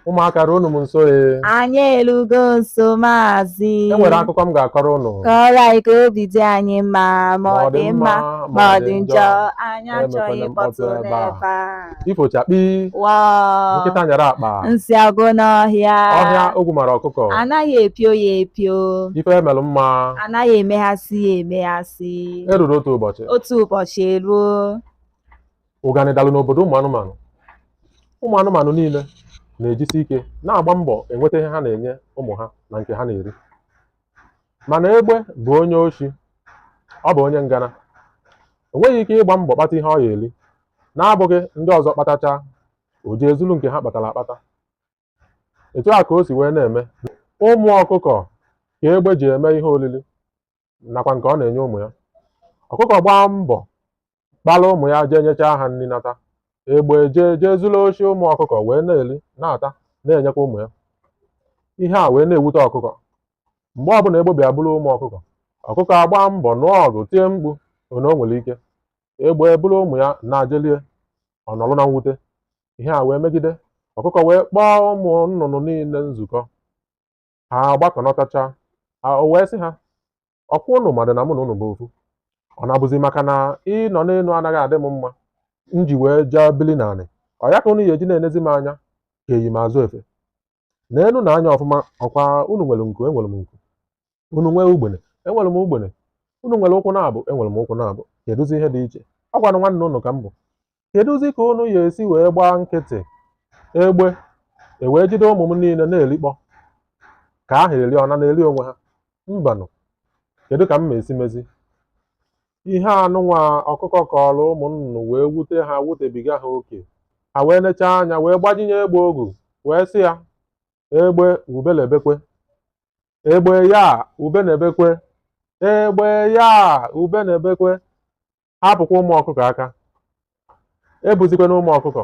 ụmụaka ruo unu m nso ee anyị elugo nso maazị e nwere akụkọ m ga-akọrọ unu kọrọ anyị ka obi dị anyị mma ma ọ dị mma ma ọ dị njọ anyị achọghị mkpọtụ n'ebe a ifo chakpi nkịta nyara akpa nsị agwụ n'ọhịa ọhịa ogwu mara ọkụkọ anaghị epio ya epio ife e melụ mma anaghị emeghasị ya emeghasị o ruru otu ụbọchị otu ụbọchị eruo ụganị dalụ n'obodo ụmụ anụmanụ ụmụ anụmanụ niile na-ejisi ike na-agba mbọ enweta ihe ha na-enye ụmụ ha na nke ha na-eri mana egbe bụ onye oshi ọ bụ onye ngana o nweghị ike ịgba mbọ kpata ihe ọ ya eri n'abụghị ndị ọzọ kpatacha o jee zulu nke ha kpatara akpata etu a ka o si wee na-eme ụmụ ọkụkọ ka egbe ji eme ihe oriri nakwa nke ọ na-enye ụmụ ya ọkụkọ gbaa mbọ kpọrọ ụmụ ya jee nyechaa ha nri nata egbe jee jee zuru oshi ụmụ ọkụkọ wee na-eri na-ata na-enyekwa ụmụ ya ihe a wee na-ewute ọkụkọ mgbe ọbụla egbe bịa buru ụmụ ọkụkọ ọkụkọ agba mbọ nụọ ọgụ tie mkpu na o nwere ike egbe buru ụmụ ya naa jee lie ọ nọrọ na mwute ihe a wee megide ọkụkọ wee kpọọ ụmụ nnụnụ niile nzukọ ha gbakọnọtachaa o wee sị ha ọkwa ụnụ madụ na mụ na ụnụ bụ ofu ọ na-abụzi maka na ịnọ n'enu anaghị adị m mma m ji wee jee bili n'anị ọ ya ka ụnụ ya eji na-enezi m anya ka eyi m azụ efe n'enu nee anya ọfụma ọkwa ụnụ nwere nku enwere m nku ụnụ nwee ugbene enwere m ugbene ụnụ nwere ụkwụ naabọ enwere m ụkwụ naabọ kedụzi ihe dị iche ọ kwanụ nwanne ụnụ ka m bụ kedụzi ka unu ya esi wee gbaa nkịtị egbe ewee jide ụmụ m niile na-erikpọ ka ahụ eri ọna na-eri onwe ha mbanụ kedu ka m ma esi mezi ihe anụnwa ọkụkọ kọrọ ụmụ nnụnụ wee wute ha wutebiga ha oke ha wee nechaa anya wee gbajinye egbe ogu wee sị ya egbe ube na-ebekwe egbe ya ube na-ebekwe egbe ya ube na-ebekwe hapụkwa ụmụ ọkụkọ aka ebuzikwana ụmụ ọkụkọ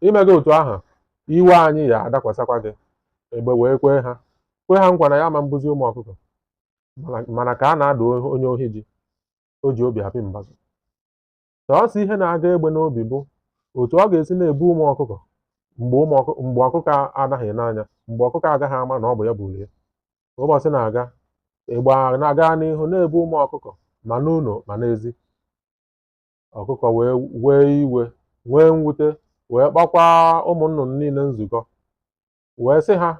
i meghị otu ahụ iwe anyị ya adakwasakwa gị egbe wee kwee ha kwe ha nkwa na ya ma mbuzi ụmụ ọkụkọ mana ka a na-adụ onye ohi ji o ji obi apị mbazụ sọọsọ ihe na-aga egbe n'obi bụ otu ọ ga-esi na-ebu ụmụ ọkụkọ mgbe ọkụkọ anaghị ene anya mgbe ọkụkọ agaghị ama na ọ bụ ya bulu ya ka ụbọchị na-aga egbe na-aga n'ihu na-ebu ụmụ ọkụkọ ma n'ụnọ ma n'ezi ọkụkọ wee wee iwe nwee mwute wee kpọkwa ụmụ nnụnụ niile nzukọ wee sị ha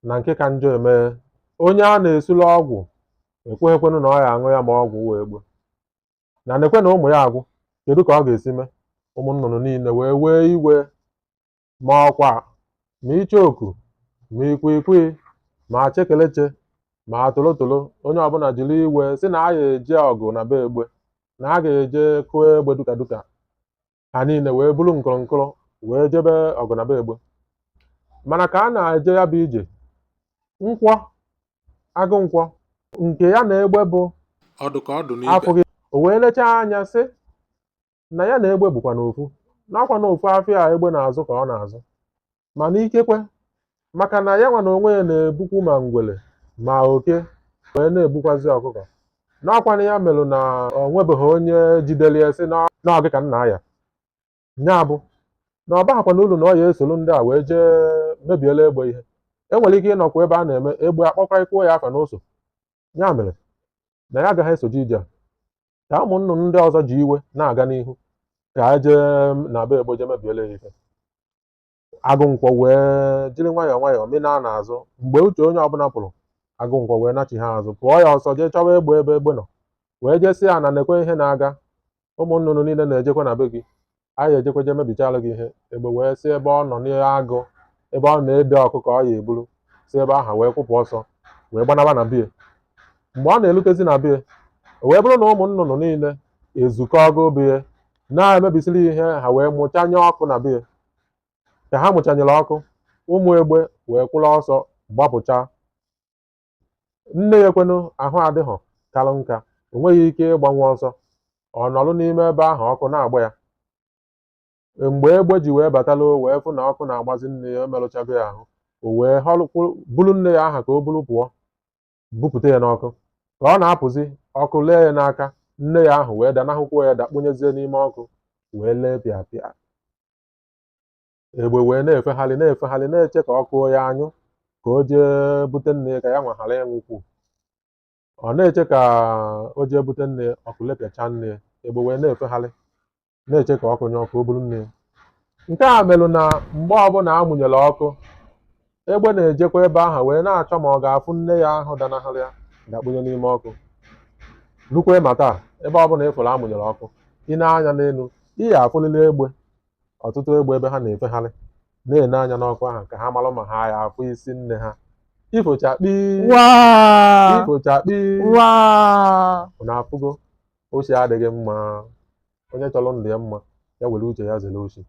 na nke ka njọ emee onye a na-esili ọgwụ ekweghịkwanụ na ọ ya aṅụ ya ma ọgwụ wee gbuo na nekwe na ụmụ ya agwụ kedu ka ọ ga-esi mee ụmụ nnụnụ niile wee wee iwe ma ọkwa ma icheoku ma ikwikwii ma chekeleche ma tolotolo onye ọbụla jiri iwe sị na a ga-eje ọgụ na be egbe na a ga-eje kụọ egbe duka duka ha niile wee buru nkụrụnkụrụ wee jebe ọgụ na be egbe mana ka a na-eje ya bụ ije nkwọ agụ nkwọ nke ya na egbe bụ ọdụ ka ọdụ n'ibe afụghị o wee lechaa anya sị na ya na egbe bụkwanụ ofu na ọ kwanụ ofu afịa a egbe na-azụ ka ọ na-azụ mana ikekwe maka na ya nwa na onwe ya na-ebukwu ma ngwele ma oke wee na-ebukwazi ọkụkọ na ọ kwanụ ya melụ na o nwebeghị onye jidere ya sị na ọ gị ka nna ya ya bụ na ọ baghịkwanụ ulu na ọ ya esoro ndị a wee jee mebiela egbe ihe e nwere ike ịnọkwa ebe a na-eme egbe a kpọkọrịkwuo ya afa n'ụsọ ya mere na ya agaghị esoje ije a ka ụmụ nnụnụ ndị ọzọ ji iwe na-aga n'ihu ka e jee na be egbe jee mebiela ya ife agụ nkwọ wee jiri nwayọọ nwayọọ mịnaa n'azụ mgbe uche onye ọbụla pụrụ agụ nkwọ wee nachi ha azụ pụọ ya ọsọ jee chọwa egbe ebe egbe nọ wee jee sị ya na nekwe ihe na-aga ụmụ nnụnụ niile na-ejekwa na be gị a ya ejekwa je mebichalụ gị ihe egbe wee si ebe ọ nọ n'agụ ebe ọ na-ede ọkụkọ ọ ya eburu si ebe ahụ wee kwụpụ ọsọ wee gbanaba na bie mgbe ọ na-elutezi na bie o wee bụrụ na ụmụ nnụnụ niile ezukọgo bie na-emebisiri ihe ha wee mụchanye ọkụ na bie ka ha mụchanyere ọkụ ụmụ egbe wee kwụrụ ọsọ gbapụcha nne ya kwanụ ahụ adịghị kalụ nka o nweghị ike ịgbanwe ọsọ ọ nọrọ n'ime ebe ahụ ọkụ na-agba ya mgbe egbe ji wee batala o wee fụ na ọkụ na-agbazi nne ya emerụchago ya ahụ o wee họrọkwuru buru nne ya ahụ ka o buru pụọ bupụta ya n'ọkụ ka ọ na-apụzi ọkụ lee ya n'aka nne ya ahụ wee danahụkwuo ya dakpunyezie n'ime ọkụ wee lee pịa pịa egbe wee na-efegharị na-efegharị na-eche ka ọkụ ya anyụ ka o jee bute nne ya ka ya nwa ghara ịnwụkwu ọ na-eche ka o jee bute nne ya ọkụ lepịacha nne ya egbe wee na-efegharị na-eche ka ọkụ nyụọ ka o buru nne ya nke a merụ na mgbe ọbụla a mụnyere ọkụ egbe na-ejekwa ebe ahụ wee na-achọ ma ọ ga-afụ nne ya ahụ danahụrụ ya dakpunye n'ime ọkụ lukwe ma taa ebe ọbụla ị fụrụ a mụnyere ọkụ i nee anya n'elu ị ya afụlili egbe ọtụtụ egbe ebe ha na-efegharị na-ene anya n'ọkụ ahụ ka ha mara ma ha ya afụ isi nne ha ifochakpi waa ifochakpi waa unu afụgo oshi adịghị mma onye chọrọ ndụ ya mma ya were uche ya zere oshi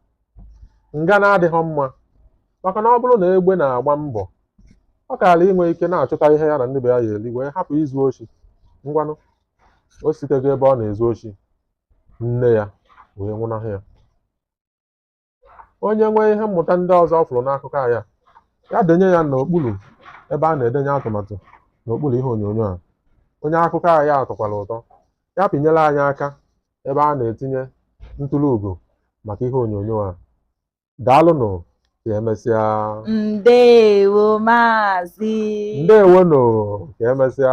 ngana adịghị mma maka na ọ bụrụ na egbe na-agba mbọ ọ kaara inwe ike na-achụta ihe ya na ndị be ya ya eri wee hapụ izu oshi ngwanụ o sitego ebe ọ na-ezu oshi nne ya wee nwụnahụ ya onye nwee ihe mmụta ndị ọzọ ọ fụrụ n'akụkọ a ya ya denye ya n'okpuru ebe a na-edenye atụmatụ n'okpuru ihe onyonyo a onye akụkọ a ya tọkwara ụtọ ya pịnyere anyị aka ebe a na-etinye ntụrụ ugo maka ihe onyonyo a daalụnụ ka emesịa ndewo maazị ndewo nụ ka emesịa